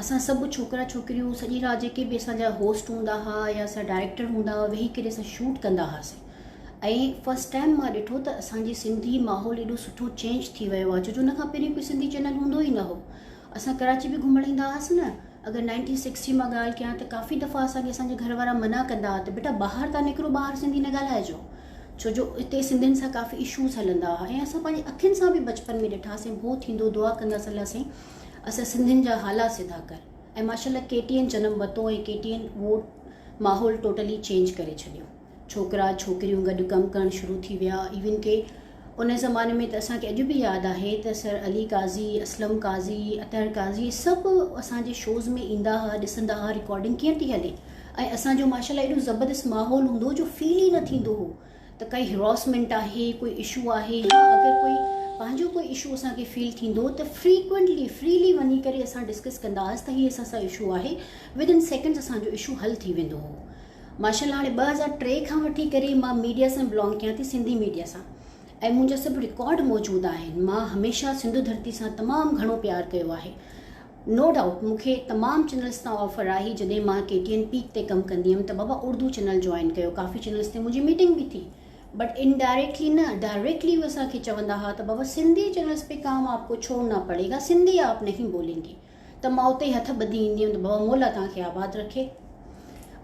اسان سڀ ڇوڪرا ڇوڪريون سڄي رات جيڪي به اسان جا هوسٽ هوندا ها يا اسان جا ڊائريڪٽر هوندا ها ويهي ڪري اسان شوٽ ڪندا هئاسين ۽ فرسٽ ٽائيم مان ڏٺو ته اسان جي سنڌي ماحول ايڏو سٺو چينج ٿي ويو آهي ڇو جو ان کان پهرين ڪوئي سنڌي چينل هوندو ئي نه هو اسان ڪراچي به گهمڻ ايندا هئاسين نه اگر نائنٽين سڪس جي مان ڳالهه ڪيان ته ڪافي دفعا اسان کي اسان جا گهر وارا منع ڪندا ها ته بيٽا ٻاهر ٿا نڪرو ٻاهر سنڌي نه ڳالهائجو ڇو جو اتي سنڌين سان ڪافي اشوز هلندا ها ۽ اسان پنهنجي اکين سان به بچپن ۾ ڏٺاسين ڀو ٿيندو دعا ڪندا سلاسين اسان سنڌين جا حالات سڌا ڪر ۽ ماشاءالله ڪي ٽي اين جنم وتو ۽ ڪي ٽي اين اهو ماحول ٽوٽلي چينج ڪري ڇڏيو ڇوڪرا ڇوڪريون گڏ ڪم ڪرڻ شروع ٿي ويا ايون ڪي ان زماني ۾ ته اسانکي اڄ به ياد آهي ته سر علي قاضي اسلم قاضي اطهر قاضي سڀ اسانجي شوز ۾ ايندا ها ڏسندا ها رڪارڊنگ ڪيئن ٿي هلي ۽ اسانجو ماشاءالله ايڏو زبردست ماحول هوندو جو فيل ئي نه ٿيندو هو ته ڪائي هراسمينٽ آهي ڪوئي اشو آهي يا اگر ڪوئي پنهنجو ڪوئي اشو اسان کي فيل ٿيندو ته فريڪوينٽلي فريلي وڃي ڪري اسان ڊسڪس ڪندا هئاسين ته هي اسان سان اشو آهي ود ان سيڪنڊس اسان جو اشو حل ٿي ويندو هو ماشاءالله هاڻي ٻه هزار ٽي کان وٺي ڪري مان ميڊيا سان بلانگ ڪيان ٿي سنڌي ميڊيا سان ۽ منهنجا سڀ رڪارڊ موجود آهن مان هميشه سنڌو ڌرتي سان تمام گهڻو پيار ڪيو آهي نو ڊائوٽ مون کي تمام چينلز تان آفر آئي جڏهن مان ڪي ٽي اين پيڪ تي ڪم ڪندي هيم ته بابا اردو چينل جوائن ڪيو ڪافي چينلز تي منهنجي ميٽنگ به ٿي بٽ ان ڊائريڪٽلي نه ڊائريڪٽلي هو اسان کي چوندا ها ته بابا سنڌي چينلز پي ڪام آپ ڪو ڇوڙنا پڙي گا سنڌي آپ نهين بولين گي ته مان اتي ئي هٿ ٻڌي ايندي هيم ته بابا مولا توهان کي آباد رکي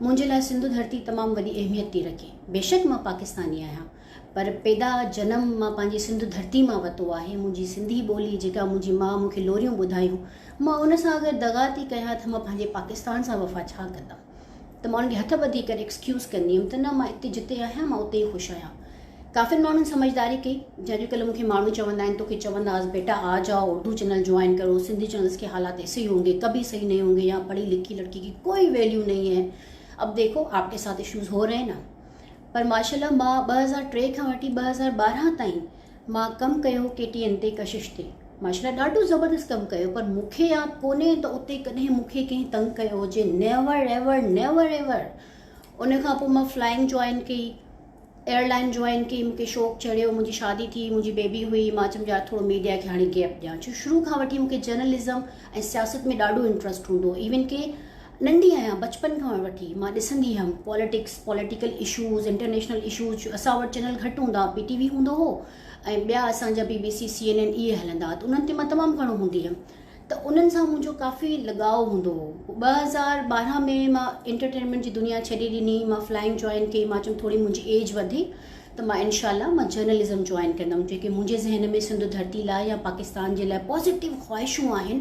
منهنجي لاء سنڌو ڌرتي تمام وڏي اهميت ٿي رکي بيشڪ مان پاڪستاني آهيان پر پيدا جنم مان پنهنجي سنڌ ڌرتي مان وتو آهي منهنجي سنڌي ٻولي جيڪا منهنجي ماء مون کي لوريون ٻڌايون مان ان سان اگر دغا ٿي ڪيان ته مان پنهنجي پاڪستان سان وفا ڇا ڪندم ته مان ان کي هٿ ٻڌي ڪري ايڪسڪيوز ڪندي هيم ته نه مان اتي جتي آهيان مان اتي ئي خوش آهيان ڪافين ماڻهن سمجھداري ڪئي جا اڄ ڪلهه مون کي ماڻهو چوندا آهن توکي چونداس بيٽا آ جاء اردو چينل جوائن ڪرو سنڌي چينلس کي حالات ايسي ئي هونگي ڪبي صحيح نهي هونگي يا پڙهي لکي لڙڪي ڪي ڪوئي ويليو نهي هي اب ديکو آپڪي ساٿ ايشوز هو رهي نا پر ماشاءالله مان ٻه هزار ٽي کان وٺي ٻه هزار ٻارهن تائين مان ڪم ڪيو ڪي ٽي اين تي ڪشش تي ماشاءالله ڏاڍو زبردست ڪم ڪيو پر مون کي ياد ڪونهي ته اتي ڪڏهن مون کي ڪنهن تنگ ڪيو هجي نيور ايور نيور ايور ان کان پوء مان فلائنگ جوائن ڪئي ايئرلائن جوائن ڪئي مون کي شوق چڙهيو منهنجي شادي ٿي منهنجي بيبي هئي مان چيم يار ٿورو ميڊيا کي هاڻي گيپ ڏيان ڇو شروع کان وٺي مون کي جرنلزم ۽ سياست ۾ ڏاڍو انٽرسٽ هوندو هو ايون ڪي ننڍي آهيان بچپن کان وٺي مان ڏسندي هيم politics political issues international issues جو اسان وٽ چينل گهٽ هوندا هئا پي ٽي وي هوندو هو ۽ ٻيا اسان جا B B C C N N اهي هلندا هئا ته انهن تي مان تمام گهڻو هوندي هيم ته انهن سان منهنجو ڪافي لڳاء هوندو هو ٻه هزار ٻارهن ۾ مان انٽرٽينمينٽ جي دنيا ڇڏي ڏني مان فلائنگ جوائن ڪئي مان چيم ٿوري منهنجي ايج وڌي ته مان انشاء الله مان جرنلزم جوائن ڪندم جيڪي منهنجي ذهن ۾ سنڌو ڌرتي لاء يا پاڪستان جي لاء پازيٽو خواهشون آهن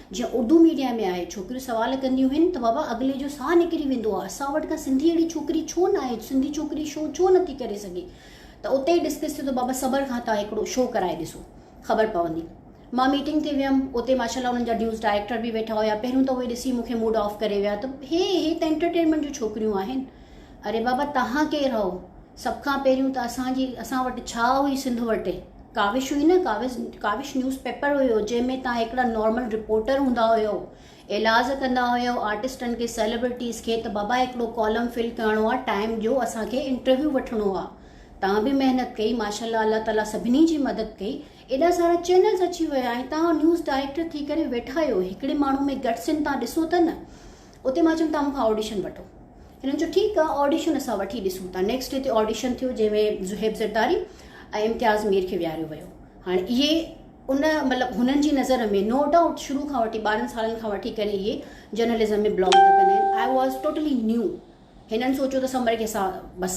جيئن اردو ميڊيا ۾ آهي ڇوڪريون سوال ڪنديون هين ته بابا اڳلي جو ساهه نڪري ويندو آهي اسان وٽ ڪا سنڌي اهڙي ڇوڪري ڇو نه آهي سنڌي ڇوڪري شو ڇو نٿي ڪري سگهي ته اتي ئي ڊسڪس ٿيو ته بابا صبر کان تان هڪڙو شو ڪرائي ڏسو خبر پوندي مان ميٽنگ تي ويم اتي ماشاءالله انهن جا نيوز ڊائريڪٽر به ويٺا هيا پهريون ته اهي ڏسي مونکي موڊ آف ڪري ويا ته هي هي ته انٽرٽينمينٽ جون ڇوڪريون آهن اري بابا توهان ڪير هئو؟ سڀ کان پهريون ته اسان جي اسان وٽ ڇا هئي سنڌ وٽي ڪاوش هئي نه ڪاوش ڪاوش نيوز پيپر هيو جنهن ۾ توهان هڪڙا نارمل رپورٽر هوندا هيو ايلاز ڪندا هيو آرٽسٽن کي سيلبرٽيز کي ته بابا هڪڙو ڪالم فل ڪرڻو آ ٽائيم ڏيو اسان کي انٽرويو وٺڻو آ توهان به محنت ڪئي ماشاءالله الله تعالي سڀني جي مدد ڪئي ايڏا سارا چينلز اچي ويا ۽ توهان نيوز ڊائريڪٽر ٿي ڪري ويٺا هيو هڪڙي ماڻهو ۾ گٽس ان توهان ڏسو ته نه اتي مان چيم تان مون کان آڊيشن وٺو هنن چيو ٺيڪ آ آڊيشن اسان وٺي ڏسون ٿا نيڪسٽ ڊي تي آڊيشن ٿيو جنهن ۾ زهيب زرداري ۽ امتياز مير کي ويهاريو ويو هاڻي اهي ان مطلب هنن جي نظر ۾ نو ڊائوٽ شروع کان وٺي ٻارهن سالن کان وٺي ڪري اهي جرنلزم ۾ بلانگ ٿا ڪن آء واز ٽوٽلي نيو هنن سوچيو ته سمر کي اسان بس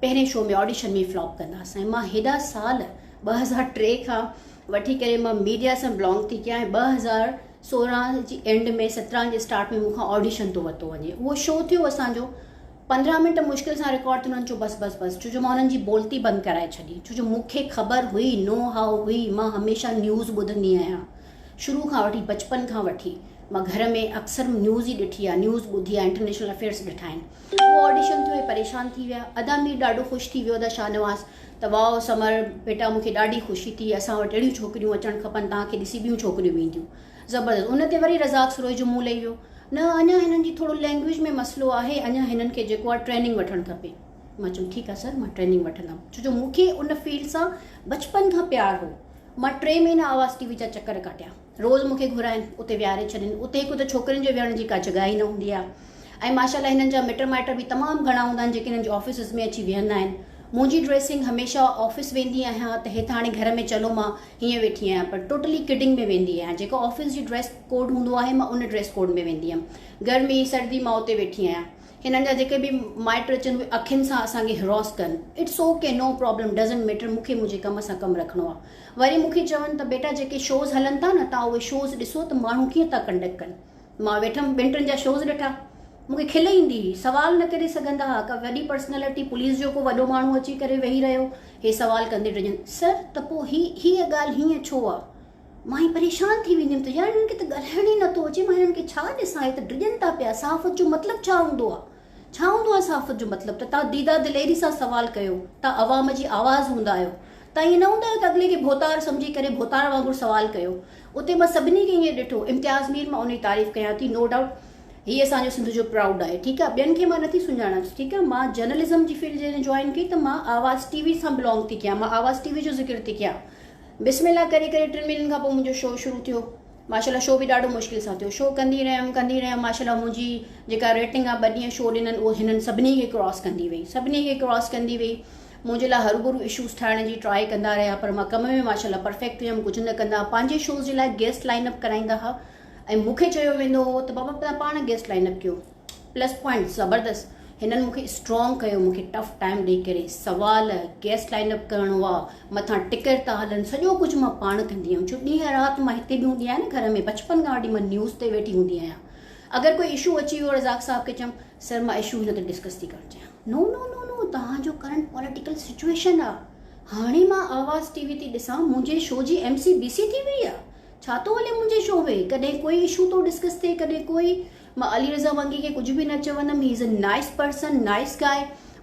پهرين شو ۾ آڊيشن ۾ فلاپ ڪنداسين ۽ مان هيڏا سال ٻه هزار ٽي کان وٺي ڪري مان ميڊيا سان بلانگ ٿي ڪيان ۽ ٻه هزار سورهن جي اينڊ ۾ سترهن جي اسٽارٽ ۾ مون کان آڊيشن ٿو ورتو وڃي اهو شو ٿيو اسان جو پندرهن منٽ مشڪل سان رڪارڊ ٿيو انهن چيو بس بس بس ڇو جو مان انهن جي بولتي بند ڪرائي ڇڏي ڇو جو مون کي خبر هئي نو هاء هئي مان هميشه نيوز ٻڌندي آهيان شروع کان وٺي بچپن کان وٺي مان گهر ۾ اڪثر نيوز ئي ڏٺي آهي نيوز ٻڌي آهي انٽرنيشنل افيئرس ڏٺا آهن هو آڊيشن ٿيو هي پريشان ٿي ويا ادا مير ڏاڍو خوش ٿي ويو ادا شاهنواز ته واء سمر بيٽا مونکي ڏاڍي خوشي ٿي اسان وٽ اهڙيون ڇوڪريون اچڻ کپن تان کي ڏسي ٻيون ڇوڪريون به اينديون زبردست ان تي وري رزاق سروج جو منهن لهي ويو نه اڃا هنن جي ٿورو لينگويج ۾ مسئلو آهي اڃا هنن کي جيڪو آهي ٽريننگ وٺڻ کپي مان چيم ٺيڪ آهي سر مان ٽريننگ وٺندم ڇو جو مونکي ان فيلڊ سان بچپن کان پيار هو مان ٽي مهينا آواز ٽي وي جا چڪر ڪاٽيا. روز مون کي گهرائين، اتي ويهاري ڇڏين. اتي هڪ ته ڇوڪرين جي ويهڻ جي ڪا جڳهه ئي نه هوندي آهي ۽ ماشاء الله هنن جا مٽ مائٽ به تمام گهڻا هوندا آهن جيڪي هنن جي آفيسز ۾ اچي ويهندا آهن. منهنجي ڊريسنگ هميشه آفيس ويندي آهيان ته هيت هاڻي گهر ۾ چلو مان هيئن ويٺي آهيان پر ٽوٽلي ڪڊنگ ۾ ويندي آهيان جيڪو آفيس جي ڊريس ڪوڊ هوندو آهي مان ان ڊريس ڪوڊ ۾ ويندي هيم. گرمي، سردي مان اتي ويٺي آهيان. هنن جا جيڪي به مائٽ اچن اهي اکين سان اسان کي هراس ڪن it's okay no problem doesn't matter مون کي منهنجي ڪم سان ڪم رکڻو آهي وري مون کي چون ته بيٽا جيڪي شوز هلن ٿا نه توهان اهي شوز ڏسو ته ماڻهو ڪيئن ٿا ڪنڊڪ ڪن مان ويٺم ٻن ٽن جا شوز ڏٺا مون کي کل ايندي هئي سوال نه ڪري سگهندا هئا ڪا وڏي پرسنالٽي پوليس جو ڪو وڏو ماڻهو اچي ڪري ويهي رهيو هي سوال ڪندي ڊڄن سر ته پوء هي هيء ڳالهه هيئن ڇو آهي مان ائين پريشان ٿي ويندي هيم ته يار هنن کي ته ڳالهائڻ ئي نٿو اچي مان هنن کي ڇا ڏسان هي ته ڊڄن ٿا پيا صحافت جو مطلب ڇا هوندو آ ڇا هوندو آ صحافت جو مطلب ته توهان ديده دليري سان سوال ڪيو توهان عوام جي آواز هوندا آهيو توهان ائين نه هوندا آهيو ته اڳلي کي ڀوتار سمجهي ڪري ڀوتار وانگر سوال ڪيو اتي مان سڀني کي ائين ڏٺو امتياز مير مان انهي تعريف ڪيان ٿي نو ڊائوٽ هي اسان جو سنڌ جو پرائوڊ آهي ٺيڪ آ ٻين کي مان نٿي سڃاڻان ٺيڪ آ مان جرنلزم جي فيلڊ جڏهن جوائن ڪئي ته مان آواز ٽي وي سان بلانگ ٿي ڪيان مان آواز ٽي وي جو ذڪر ٿي ڪيان بسم الله ڪري ڪري ٽن مھينن کان پوء منھنجو شو شروع ٿيو ماشاء الله شو به ڏاڍو مشڪل سان ٿيو شو ڪندي رھيم ڪندي رھيم ماشاء الله منھنجي جيڪا ريٽنگ آ ٻه ڏينھن شو ڏنن اھو ھنن سڀني کي ڪراس ڪندي وئي سڀني کي ڪراس ڪندي وئي منھنجي لاء ھرگھرو اشوز ٺاھڻ جي ٽراء ڪندا رھيا پر مان ڪم ۾ ماشاء الله پرفيڪٽ ھيم ڪجھ نه ڪندا پنھنجي شوز جي لاء گيسٽ لائن اپ ڪرائيندا ھا ۽ مونکي چيو ويندو ھو ته بابا تنھن پاڻ گيسٽ لائن اپ ڪيو پلس پوائنٽ زبردست هنن مونکي اسٽرانگ ڪيو مونکي ٽف ٽائم ڏيئي ڪري سوال گيسٽ لائن اپ ڪرڻو آ مٿان ٽڪيٽ ٿا هلن سڄو ڪجهه مان پاڻ ڪندي هيم ڇو ڏينهن رات مان هتي به هوندي آهيان نه گهر ۾ بچپن کان وٺي مان نيوز تي ويٺي هوندي آهيان اگر ڪوئي اشو اچي ويو رزاق صاحب کي چم سر مان اشو هن تي ڊسڪس ٿي ڪرڻ چاهيان نو نو نو نو توهان جو ڪرنٽ پوليٽيڪل سچويشن آ هاڻي مان آواز ٽي وي تي ڏسان منهنجي شو جي ايم سي بي سي ٿي وئي آ ڇا ٿو هلي منهنجي شو ۾ ڪڏهن ڪوئي اشو ٿو ڊسڪس ٿئي ڪڏهن ڪوئي مان علي رضا ونگي کي ڪجهه به نه چوندم he is a nice person nice guy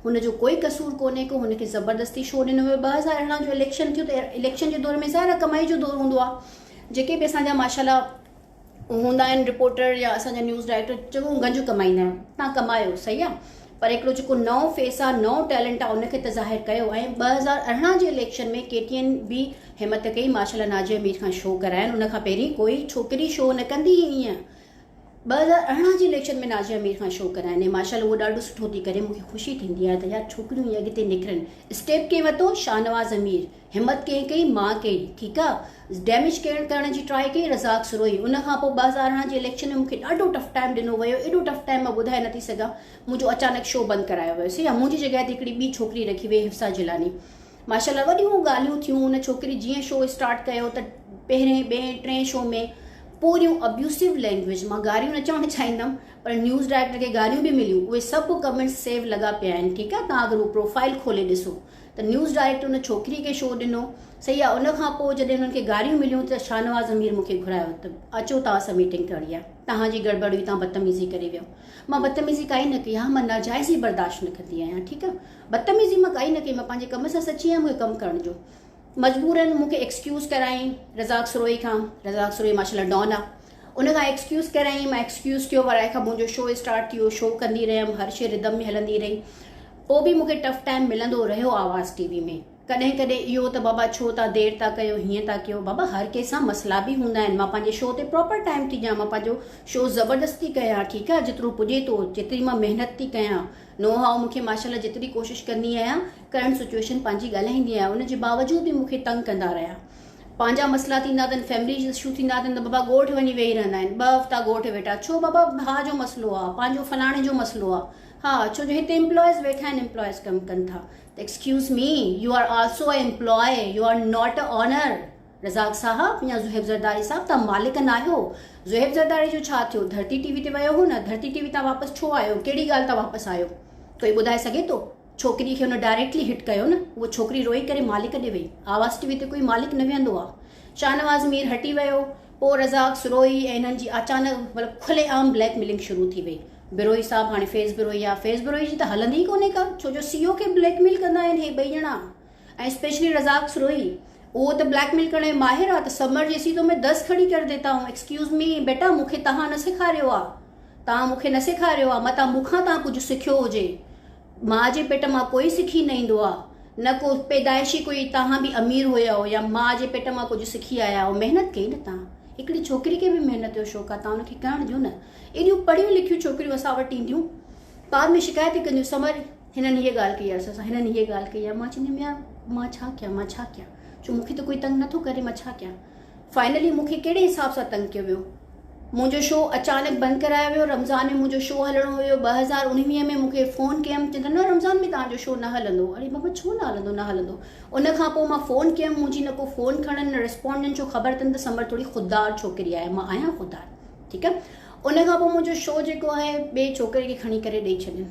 هن جو ڪوئي قصور ڪونهي ڪو هن کي زبردستي شو ڏنو ويو ٻه هزار ارڙهن جو اليڪشن ٿيو ته اليڪشن جي دور ۾ ظاهر آهي ڪمائي جو دور هوندو آهي جيڪي به اسان جا ماشاءالله هوندا آهن رپورٽر يا اسان جا نيوز ڊائريڪٽر چڱو گنج ڪمائيندا آهن تان ڪمايو صحيح آهي پر هڪڙو جيڪو نئون فيس آهي نئون ٽيلنٽ آهي ان کي ته ظاهر ڪيو ۽ ٻه هزار ارڙهن جي اليڪشن ۾ ڪي ٽي اين به همت ڪئي ماشاءالله نازيه مير کان شو ڪراين ان کان پهرين ڪوئي ڇوڪري شو نه ڪندي هئي ائين ٻه هزار ارڙهن جي اليڪشن ۾ نازيا مير کان شو ڪرايان ۽ ماشاء الله هوء ڏاڍو سٺو ٿي ڪري مون کي خوشي ٿيندي آهي ته يار ڇوڪريون ائين اڳتي نڪرن اسٽيپ ڪنهن ورتو شاهنواز مير همت ڪنهن ڪئي مان ڪئي ٺيڪ آ ڊيميج ڪير ڪرڻ جي ٽرائي ڪئي رزاق سروهي ان کان پوء ٻه هزار ارڙهن جي اليڪشن ۾ مون کي ڏاڍو ٽف ٽائيم ڏنو ويو ايڏو ٽف ٽائيم مان ٻڌائي نٿي سگهان منهنجو اچانڪ شو بند ڪرايو ويو سي منهنجي جڳهه تي هڪڙي ٻي ڇوڪري رکي وئي حفصه جيلاني ماشاءالله وڏيون ڳالهيون ٿيون ان ڇوڪري جيئن شو اسٽارٽ ڪيو ته پهرين ٻئين ٽئين شو ۾ پوريون ابيوسو لينگويج مان گاريون نه چوڻ چاهيندم پر نيوز ڊائريڪٽر کي گاريون به مليون اهي سڀ ڪمنٽس سيو لڳا پيا آهن ٺيڪ آهي تان اگر هو پروفائل کولي ڏسو ته نيوز ڊائريڪٽر ان ڇوڪري کي شو ڏنو صحيح آهي ان کان پوء جڏهن انهن کي گاريون مليون ته شاهنواز امير مون کي گهرايو ته اچو توهان سان ميٽنگ ڪرڻي آهي توهان جي گڙبڙ هئي توهان بدتميزي ڪري ويو مان بدتميزي ڪائي نه ڪئي ها مان ناجائز ئي برداشت نه ڪندي آهيان ٺيڪ آهي بدتميزي مان ڪائي نه ڪئي مان پنهنجي ڪم سان سچي آهيان مون کي ڪم ڪرڻ جو مجبورن مون کي ايڪسڪيوز ڪرايائين رزاق سروهي کان رزاق سروهي ماشاء الله ڊان آ ان کان ايڪسڪيوز ڪرايائين مان ايڪسڪيوز ٿيو وري کان منهنجو شو اسٽارٽ ٿيو شو ڪندي رهيم هر شي ردم ۾ هلندي رهي پوء به مون کي ٽف ٽائيم ملندو رهيو آواز ٽي وي ۾ ڪڏهن ڪڏهن اهو ته بابا ڇو تان دير ٿا ڪيو هيئن ٿا ڪيو بابا هر ڪنهن سان مسئلا به هوندا آهن مان پنهنجي شو تي پراپر ٽائيم ٿي ڏيان مان پنهنجو شو زبردست ٿي ڪيان ٺيڪ آ جيترو پڄي ٿو جيتري مان محنت ٿي ڪيان نو هاء مون کي ماشاء الله جيتري ڪوشش ڪندي آهيان ڪرنٽ سچوئيشن پنهنجي ڳالهائيندي آهيان ان جي باوجود به مون کي تنگ ڪندا رهيا پنهنجا مسئلا ٿيندا اٿن فيملي اشو ٿيندا اٿن ته بابا ڳوٺ وڃي ويهي رهندا آهن ٻه هفتا ڳوٺ ويٺا ڇو بابا ڀاء جو مسئلو آهي پنهنجو فلاڻي جو مسئلو آهي ها ڇو جو هتي امپلائيز ويٺا آهن امپلائيز ڪم ڪن ٿا ته excuse me you are also a employee you are not a owner Razzaq sahab يا زوهيب زرداري صاحب توهان مالڪ ناهيو زوهيب زرداري جو ڇا ٿيو ڌرتي ٽي وي تي ويو هو نه ڌرتي ٽي وي تان واپس ڇو آيو ڪهڙي ڳالهه تان واپس آيو ڪوئي ٻڌائي سگهي ٿو ڇوڪري کي هن ڊائريڪٽلي هٽ ڪيو نه اهو ڇوڪري روئي ڪري مالڪ ڏي وئي آواز ٽي وي تي ڪوئي مالڪ نه ويهندو آ شاهنواز مير هٽي ويو پوء رزاق سروهي ۽ انهن جي اچانڪ مطلب کلي عام بليڪ ميلنگ شروع ٿي وئي بروهي صاحب هاڻي فيض بروهي آ فيض بروهي جي ته هلندي ئي ڪونهي ڪا ڇو جو سي او کي بليڪ ميل ڪندا آهن هي ٻئي ڄڻا ۽ اسپيشلي رزاق سروهي اهو ته بليڪ ميل ڪرڻ ۾ ماهر آ ته سمر جيسي تو مين دس کڙي ڪر ديتا هون ايڪسڪيوز مي بيٽا مون کي تهان نه سيکاريو آ تهان مون کي نه سيکاريو آ متان مون کان تهان ڪجهه سکيو هجي ماء جي پيٽ مان ڪوئي سکي نه ايندو آ نه ڪو پيدائشي ڪوئي تهان به امير هيئو يا ماء جي پيٽ مان ڪجهه سکي آيا هيئو محنت ڪئي نه تهان هڪڙي ڇوڪري کي به محنت جو شوق آ تهان ان کي ڪرڻ ڏيو نه ايڏيون پڙهيون لکيون ڇوڪريون اسان وٽ اينديون بعد ۾ شڪايت ڪنديون سمر هنن هيء ڳالهه ڪئي آهيس اسان هنن هيء ڳالهه ڪئي آهي مان چوندي هيم يار مان ڇا ڪيان مان ڇا ڪيان جو مون کي ته ڪوئي تنگ نٿو ڪري مان ڇا ڪيان فائنلي مون کي ڪهڙي حساب سان تنگ ڪيو ويو منهنجو شو اچانڪ بند ڪرايو ويو رمضان ۾ منهنجو شو هلڻو هيو ٻه هزار اڻويهه ۾ مون کي فون ڪيم چون ٿا نه رمضان ۾ تهانجو شو نه هلندو اڙي بابا ڇو نه هلندو نه هلندو ان کان پوء مان فون ڪيم منهنجي نه ڪو فون کڻن نه رسپونڊ ڏين ڇو خبر تن ته سمر ٿوري خوددار ڇوڪري آهي مان آهيان خوددار ٺيڪ آهي ان کان پوء منهنجو شو جيڪو آهي ٻي ڇوڪري کي کڻي ڪري ڏئي ڇڏين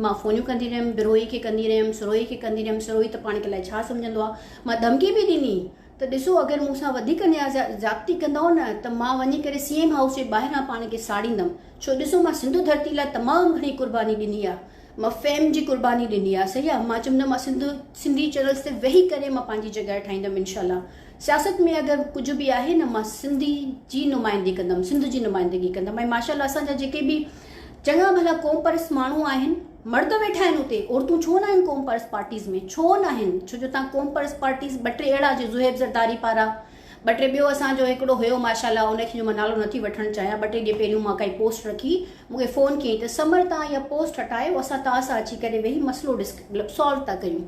مان فونيون ڪندي رهيم، بروهي کي ڪندي رهيم، سروهي کي ڪندي رهيم، سروهي ته پاڻ کي الائي ڇا سمجهندو آ، مان ڌمڪي به ڏني ته ڏسو اگر مون سان وڌيڪ نيازيا زيادتي ڪندؤ نه ته مان وڃي ڪري سي ايم هائوس جي ٻاهران پاڻ کي ساڙيندم ڇو ڏسو مان سنڌو ڌرتي لاء تمام گهڻي قرباني ڏني آ، مان فيم جي قرباني ڏني آ صحيح آ، مان چيم ته مان سنڌ سنڌي چينلز تي ويهي ڪري مان پنهنجي جڳهه ٺاهيندم انشاء الله سياست ۾ اگر ڪجهه به آهي نه مان سنڌي جي نمائندي ڪندم سنڌ جي نمائندگي ڪندم ۽ ماشاء الله اسان جا جيڪي به چڱا ڀلا قوم پرست ماڻهو آهن مرد ويٺا آهن اتي عورتون ڇو ناهن قوم پرست پارٽيز ۾ ڇو ناهن ڇو جو تان قوم پرست پارٽيز ٻه ٽي اهڙا جي زهيب زرداري پارا ٻه ٽي ٻيو اسان جو هڪڙو هيو ماشاءالله ان کي جو مان نالو نٿي وٺڻ چاهيان ٻه ٽي ڏينهن پهريون مان ڪائي پوسٽ رکي مون کي فون ڪيائين ته سمر تان اها پوسٽ هٽايو اسان تان سان اچي ڪري ويهي مسئلو ڊسڪ مطلب سالو ٿا ڪيون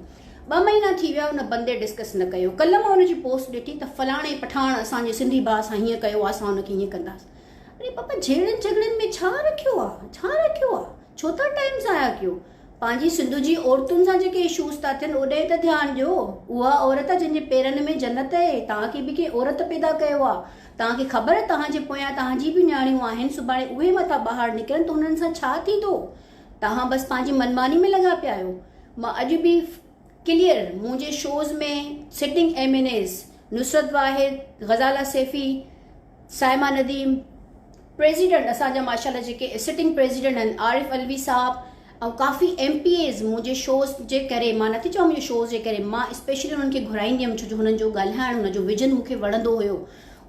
ٻه مهينا ٿي ويا ان بندي ڊسڪس نه ڪيو ڪل مان ان جي پوسٽ ڏٺي ته فلاڻي پٺاڻ اسان جي سنڌي ڀاء سان هيئن ڪيو اسان ان کي هيئن ڪنداسين اري پاپا جهيڙن جهڳڙن ۾ ڇا رکيو آ ڇا رکيو آ ڇو ٿا ٽائيم ضايع ڪيو پنهنجي سنڌ جي عورتن سان جيڪي اشوز ٿا ٿين اوڏانهن ته ڌيان ڏيو اها عورت آ جنهن جي پيرن ۾ جنت اهي توهان کي به ڪنهن عورت پيدا ڪيو آ توهان کي خبر توهان جي پويان توهان جي به نياڻيون آهن سڀاڻي اهي مٿان ٻاهر نڪرن ته انهن سان ڇا ٿيندو توهان بس پنهنجي منماني ۾ لڳا پيا آهيو مان اڄ به ڪليئر منهنجي shows ۾ sitting M N As Nusrat Wahid Ghazala Saifi Saima Nadeem, president اسان جا ماشاء الله جيڪي سٽنگ پريزيڊنٽ آهن عارف علوي صاحب ۽ ڪافي ايم پي ايز منهنجي شوز جي ڪري مان نٿي چوان منهنجي شوز جي ڪري مان اسپيشلي انهن کي گهرائيندي هيم ڇو جو هنن جو ڳالهائڻ هن جو ويجن مون کي وڻندو هيو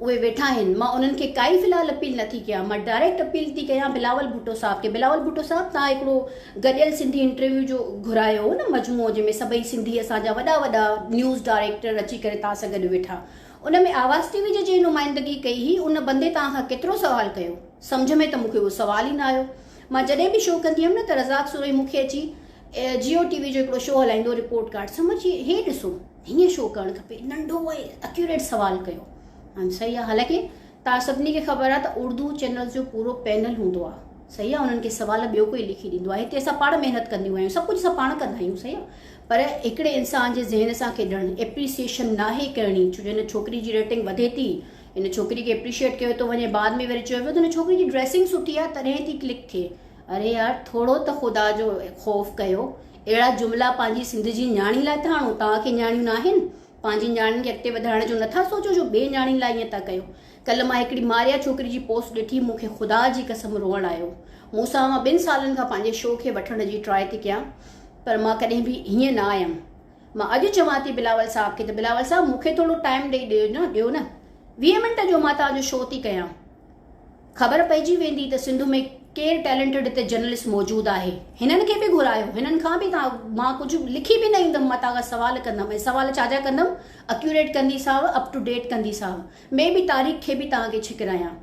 اهي ويٺا آهن مان انهن کي ڪائي في الحال اپيل نٿي ڪيان مان ڊائريڪٽ اپيل ٿي ڪيان بلاول ڀٽو صاحب کي بلاول ڀٽو صاحب تان هڪڙو گڏيل سنڌي انٽرويو جو گهرايو هو نه مجموعو جنهن ۾ سڀئي سنڌي اسان جا وڏا وڏا نيوز ڊائريڪٽر اچي ڪري تان سان گڏ ويٺا ان ۾ آواز ٽي وي جي جنهن نمائندگي ڪئي هئي ان بندي توهان کان ڪيترو سوال ڪيو؟ سمجهه ۾ ته مون کي اهو سوال ئي نه آيو. مان جڏهن به شو ڪندي هيم نه ته رزاق سورهي مون کي اچي جيو ٽي وي جو هڪڙو شو هلائيندو رپورٽ ڪارڊ سمجهه چي هي ڏسو هيئن شو ڪرڻ کپي ننڍو ۽ اڪيوريٽ سوال ڪيو. آئم سئي آ حالانڪه توهان سڀني کي خبر آهي ته اردو چينلز جو پورو پينل هوندو آهي صحيح آهي انهن کي سوال ٻيو ڪوئي لکي ڏيندو آهي هتي اسان پاڻ محنت ڪنديون آهيون سڀ ڪجهه اسان پاڻ ڪندا آهيون صحيح آهي پر هڪڙي انسان جي ذهن سان کيڏڻ ايپريسيشن ناهي ڪرڻي ڇو جو هن ڇوڪري جي ريٽنگ وڌي ٿي ان ڇوڪري کي اپريشيٽ ڪيو ٿو وڃي بعد ۾ وري چيو ويو ته هن ڇوڪري جي ڊريسنگ سٺي آهي تڏهن ٿي ڪلڪ ٿئي اري يار ٿورو ته خدا جو خوف ڪيو اهڙا جملا پنهنجي سنڌ جي نياڻي لاء ٿا آڻو توهان کي نياڻيون ناهن پنهنجي نياڻين کي اڳتي وڌائڻ جو نٿا سوچو جو ٻين نياڻين لاء ائين ٿا ڪيو. ڪلهه مان هڪڙي ماريا ڇوڪري جي پوسٽ ڏٺي مون کي خدا جي قسم روئڻ آيو. مون سان اوهان ٻن سالن کان پنهنجي شو کي وٺڻ جي ٽراء ٿي ڪيان پر مان ڪڏهن به هيئن نه آيم. مان اڄ چوان ٿي بلاول صاحب کي ته بلاول صاحب مون کي ٿورو ٽائيم ڏئي ڏيو نه ڏيو نه ويهه منٽ جو مان توهان جو شو ٿي ڪيان. خبر پئجي ويندي ته سنڌ ۾ ڪير ٽيلنٽڊ ته جرنلسٽ موجود آهي. هنن کي به گهرايو. هنن کان به ڪا مان ڪجهه لکي به نه ايندم متان کان سوال ڪندم ۽ سوال ڇا جا ڪندم اڪيوريٽ ڪندي صاحب اپ ٽو ڊيٽ ڪندي صاحب مي بي تاريخ کي به توهان کي ڇڪرايان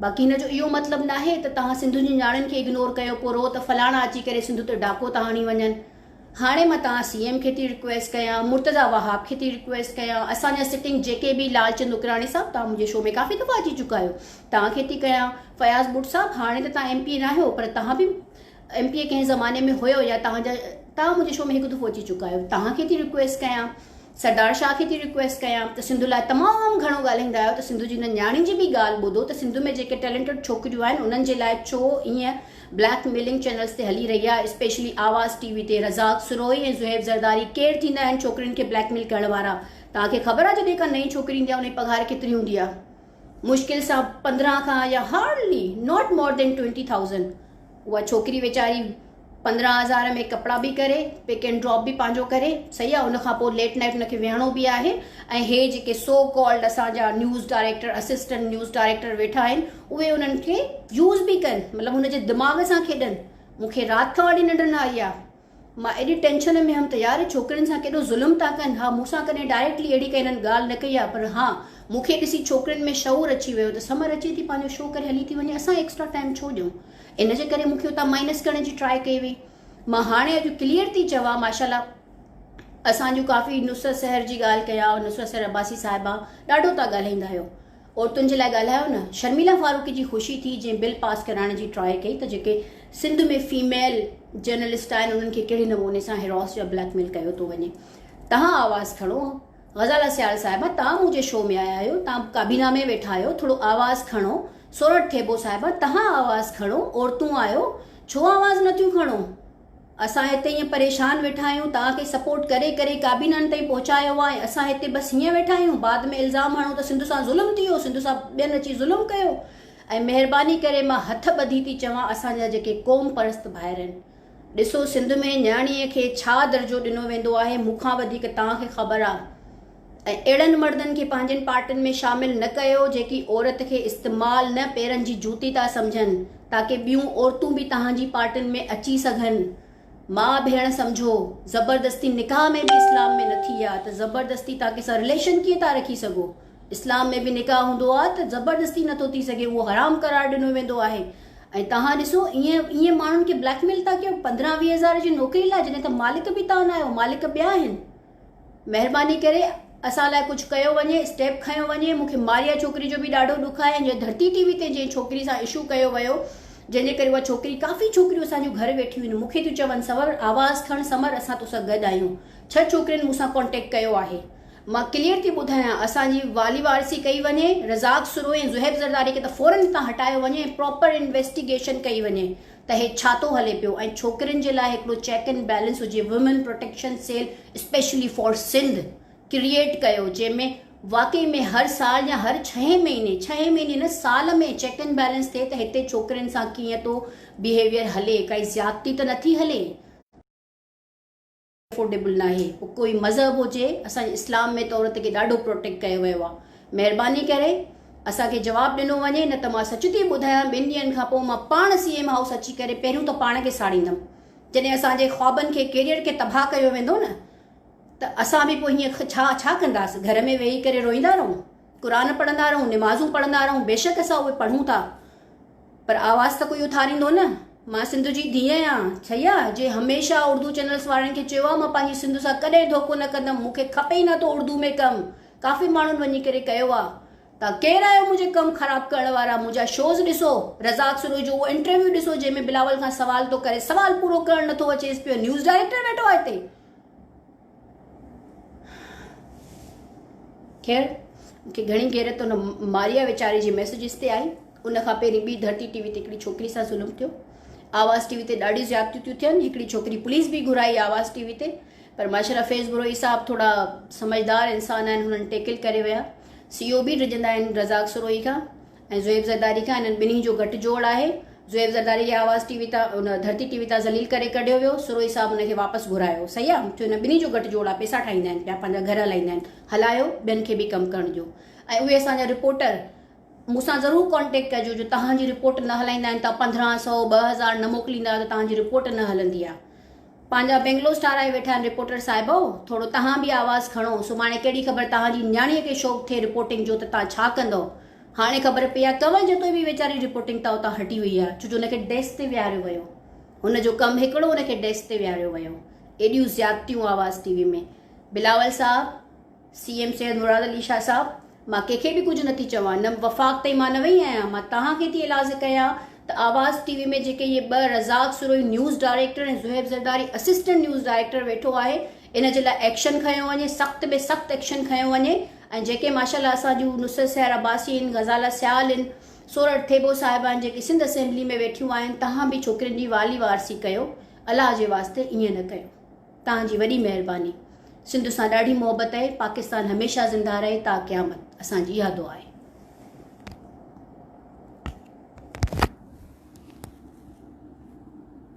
باقي هن جو اهو مطلب ناهي ته توهان سنڌ جي نياڻين کي اگنور ڪيو پورو ته فلاڻا اچي ڪري سنڌ تي ڊاڪو ٿا هڻي وڃن هاڻي مان توهان سي ايم کي ٿي رڪويسٽ ڪيان مرتضيٰ وهاب کي ٿي رڪويسٽ ڪيان اسان جا سٽنگ جيڪي به لال چند نوڪراڻي صاحب توهان منهنجي شو ۾ ڪافي دفعا اچي چڪا آهيو توهان کي ٿي ڪيان فياض بٽ صاحب هاڻي ته توهان ايم پي اي ناهيو پر توهان به ايم پي اي ڪنهن زماني ۾ هيو يا توهان جا توهان منهنجي شو ۾ هڪ دفعو اچي چڪا آهيو توهان کي ٿي رڪويسٽ ڪيان سردار شاهه کي ٿي رڪويسٽ ڪيان ته سنڌ لاء تمام گهڻو ڳالهائيندا آهيو ته سنڌ جي هن نياڻي جي به ڳالهه ٻڌو ته سنڌ ۾ جيڪي ٽيلنٽڊ ڇوڪريون آهن انهن جي لاء ڇو ائين بليڪ ميلنگ چينلز تي هلي رهي آهي اسپيشلي آواز ٽي وي تي رزاق سروهي ۽ زهيب زرداري ڪير ٿيندا آهن ڇوڪرين کي بليڪ ميل ڪرڻ وارا توهان کي خبر آهي جڏهن ڪا نئين ڇوڪري ايندي آهي ان جي پگهار ڪيتري هوندي آهي مشڪل سان پندرهن کان يا hardly not more than twenty thousand اها ڇوڪري ويچاري پندرهن هزار ۾ ڪپڙا به ڪري پڪ اينڊ ڊراپ به پنهنجو ڪري صحيح آ ان کان پوء ليٽ نائٽ ان کي ويهڻو به آهي ۽ هي جيڪي سو ڪالڊ اسان جا news director assistant news director ويٺا آهن اهي انهن کي يوز به ڪن مطلب هن جي دماغ سان کيڏن مونکي رات کان وٺي ننڊ نه آئي آ مان ايڏي ٽينشن ۾ ھيم ته يار ڇوڪرين سان ڪيڏو ظلم ٿا ڪن ھا مون سان ڪڏھن ڊائريڪٽلي اھڙي ڪا ھنن ڳالھ نه ڪئي آھي پر ھا مون کي ڏسي ڇوڪرين ۾ شعور اچي ويو ته سمر اچي ٿي پنھنجو شو ڪري ھلي ٿي وڃي اسان ايڪسٽرا ٽائيم ڇو ڏيون ان جي ڪري مون کي اتان مائنس ڪرڻ جي ٽرائي ڪئي وئي مان ھاڻي اڄ ڪليئر ٿي چوان ماشاالله اسان جون ڪافي نصرت سحر جي ڳالھ ڪيا نصرت سحر عباسي صاحبه ڏاڍو تھا ڳالھائيندا ھيو عورتن جي لاء ڳالهايو نه شرميلا فاروقي جي خوشي ٿي جنهن بل پاس ڪرائڻ جي ٽرائي ڪئي ته جيڪي سنڌ ۾ فيميل جرنلسٽ آهن انهن کي ڪهڙي نموني سان هراس يا بليڪ ميل ڪيو ٿو وڃي تهان آواز کڻو غزاله سيال صاحبه تهان منهنجي شو ۾ آيا آهيو تهان ڪابينا ۾ ويٺا آهيو ٿورو آواز کڻو سورٺ ٿيٻو صاحبه تهان آواز کڻو عورتون آهيو ڇو آواز نٿيون کڻو. اسان هتي ائين پريشان ويٺا آهيون توهان کي سپورٽ ڪري ڪري ڪابينن تائين پهچايو آهي ۽ اسان هتي بس هيئن ويٺا آهيون بعد ۾ الزام هڻو ته سنڌ سان ظلم ٿي ويو سنڌ سان ٻين اچي ظلم ڪيو ۽ مهرباني ڪري مان هٿ ٻڌي ٿي چوان اسان جا جيڪي قوم پرست ڀائر آهن ڏسو سنڌ ۾ نياڻي کي ڇا درجو ڏنو ويندو آهي مون کان وڌيڪ توهان کي خبر آهي ۽ اهڙن مردن کي پنهنجين پارٽين ۾ شامل نه ڪيو جيڪي عورت کي استعمال نه پيرن جي جوتي ٿا سمجهن تاڪه ٻيون عورتون به توهان جي پارٽين ۾ اچي سگهن ماء ڀيڻ سمجهو زبردستي نڪاح ۾ به اسلام ۾ نٿي آ ته زبردستي تان ڪي سان رليشن ڪيئن ٿا رکي سگهو اسلام ۾ به نڪاح هوندو آ ته زبردستي نٿو ٿي سگهي اهو حرام قرار ڏنو ويندو آهي ۽ توهان ڏسو ايئن ايئن ماڻهن کي بليڪ ميل ٿا ڪيو پندرهن ويهه هزار جي نوڪري لاء جڏهن ته مالڪ به توهان آهيو مالڪ ٻيا آهن. مهرباني ڪري اسان لاء ڪجهه ڪيو وڃي اسٽيپ کنيو وڃي مون کي ماريا ڇوڪري جو به ڏاڍو ڏک آهي ۽ ڌرتي ٽي وي تي جنهن ڇوڪري سان اشو ڪيو ويو جنهن جي ڪري اها ڇوڪري ڪافي ڇوڪريون اسان جون گهر ويٺيون آهن مون کي ٿيون چون سنور آواز کڻ سمر اسان تو سان گڏ آهيون ڇهه ڇوڪرين مون سان ڪانٽيڪٽ ڪيو آهي مان ڪليئر ٿي ٻڌايان اسان جي والي وارثي ڪئي وڃي رزاق سروهي ۽ زهيب زرداري کي ته فورن هتان هٽايو وڃي ۽ پراپر انويسٽيگيشن ڪئي وڃي ته هي ڇا ٿو هلي پيو ۽ ڇوڪرين جي لاء هڪڙو چيڪ اينڊ بيلنس هجي women protection cell specially for Sindh create ڪيو جنهن ۾ واقعي ۾ هر سال يا هر ڇهين مهيني ڇهين مهيني نه سال ۾ چيڪ اينڊ بيلنس ٿئي ته هتي ڇوڪرين سان ڪيئن ٿو بيهيويئر هلي ڪائي زيادتي ته نٿي هلي. افورڊيبل ناهي پوء ڪوئي مذهب هجي اسان جي اسلام ۾ ته عورت کي ڏاڍو پروٽيڪٽ ڪيو ويو آهي مهرباني ڪري اسان کي جواب ڏنو وڃي نه ته مان سچ ٿي ٻڌايان ٻن ڏينهن کان پوء مان پاڻ سي ايم هائوس اچي ڪري پهريون ته پاڻ کي ساڙيندم جڏهن اسان جي خوابن کي ڪيريئر کي تباهه ڪيو ويندو نه ته اسان به پوء هيئن ڇا ڇا ڪنداس گهر ۾ ويهي ڪري روئيندا رهون قرآن پڙهندا رهون نمازون پڙهندا رهون بيشڪ اسان اهي پڙهون ٿا پر آواز ته ڪوئي اٿاريندو نه. مان سنڌ جي ڌيء آهيان ڇيا جي هميشه اردو چينلس وارن کي چيو آهي مان پنهنجي سنڌ سان ڪڏهن ڌوڪو نه ڪندم مون کي کپي ئي نٿو اردو ۾ ڪم ڪافي ماڻهن وڃي ڪري ڪيو آهي توهان ڪير آهيو منهنجي ڪم خراب ڪرڻ وارا منهنجا شوز ڏسو رزاق سروش جو اهو انٽرويو ڏسو جنهن ۾ بلاول کان سوال ٿو ڪري سوال پورو ڪرڻ نٿو اچيس پيو نيوز ڊائريڪٽر ويٺو آهي هتي خير مون کي گهڻي غيرت ان ماريا ويچاري جي ميسجز تي آئي ان کان پهرين ٻي ڌرتي ٽي وي تي هڪڙي ڇوڪري سان ظلم ٿيو آواز ٽي وي تي ڏاڍي زيادتيون ٿيون ٿين هڪڙي ڇوڪري پوليس به گهرائي آواز ٽي وي تي پر ماشاء الله فيض بروهي صاحب ٿورا سمجھدار انسان آهن هنن ٽيڪل ڪري ويا سی او بي ڊڄندا آهن رزاق سروهي کان ۽ زويب زرداري کان انهن ٻنهي جو گهٽ جوڙ آهي. زويب زرداري کي آواز ٽي وي تان ان ڌرتي ٽي وي تان ذليل ڪري ڪڍيو ويو. سروهي صاحب ان کي واپس گهرايو. صحيح آ ڇو انهن ٻنهي جو گهٽ جوڙ آ پيسا ٺاهيندا آهن پيا پنهنجا گهر هلائيندا آهن. هلايو ٻين کي به ڪم ڪرڻ ڏيو ۽ اهي اسان جا رپورٽر مون سان ضرور ڪانٽيڪٽ ڪجو جو توهان جي رپورٽ نه هلائيندا آهن توهان پندرهن سئو ٻه هزار نه موڪليندا آهيو ته توهان جي رپورٽ نه هلندي آ. پنهنجا بينگلوز ٺاهرائي ويٺا آهن رپورٽر صاحبو ٿورو تهان به آواز کڻو سڀاڻي ڪهڙي خبر تهان جي نياڻيء کي شوق ٿئي رپورٽنگ جو ته تهان ڇا ڪندئو هاڻي خبر پئي آهي ڪنول جتوئي به ويچاري رپورٽنگ تان اتان هٽي وئي آهي ڇو جو ان کي ڊيسڪ تي ويهاريو ويو هن جو ڪم هڪڙو هن کي ڊيسڪ تي ويهاريو ويو ايڏيون زيادتيون آواز ٽي وي ۾ بلاول صاحب سي ايم سيد مراد علي شاهه صاحب مان ڪنهن کي به ڪجهه نه ٿي چوان نه وفاق تائين مان نه وئي آهيان مان توهان کي ٿي اعلاز ڪيان ته آواز ٽي وي ۾ جيڪي اهي ٻه Razzaq Sarohi news director ۽ Zohaib Zardari assistant news director ويٺو آهي ان جي لاء ايڪشن کنيو وڃي سخت ۾ سخت ايڪشن کنيو وڃي ۽ جيڪي ماشاالله اسان جون نصرت سحر عباسي آهن غزاله سيال آهن سورٺ ٿيٻو صاحبه آهن جيڪي سنڌ اسيمبلي ۾ ويٺيون آهن توهان به ڇوڪرين جي والي وارثي ڪيو الله جي واسطي ائين نه ڪيو. توهان جي وڏي مهرباني. سنڌ سان ڏاڍي محبت اهي پاڪستان هميشه زنده رهي تا قيامت اسان جي اها دعا آهي.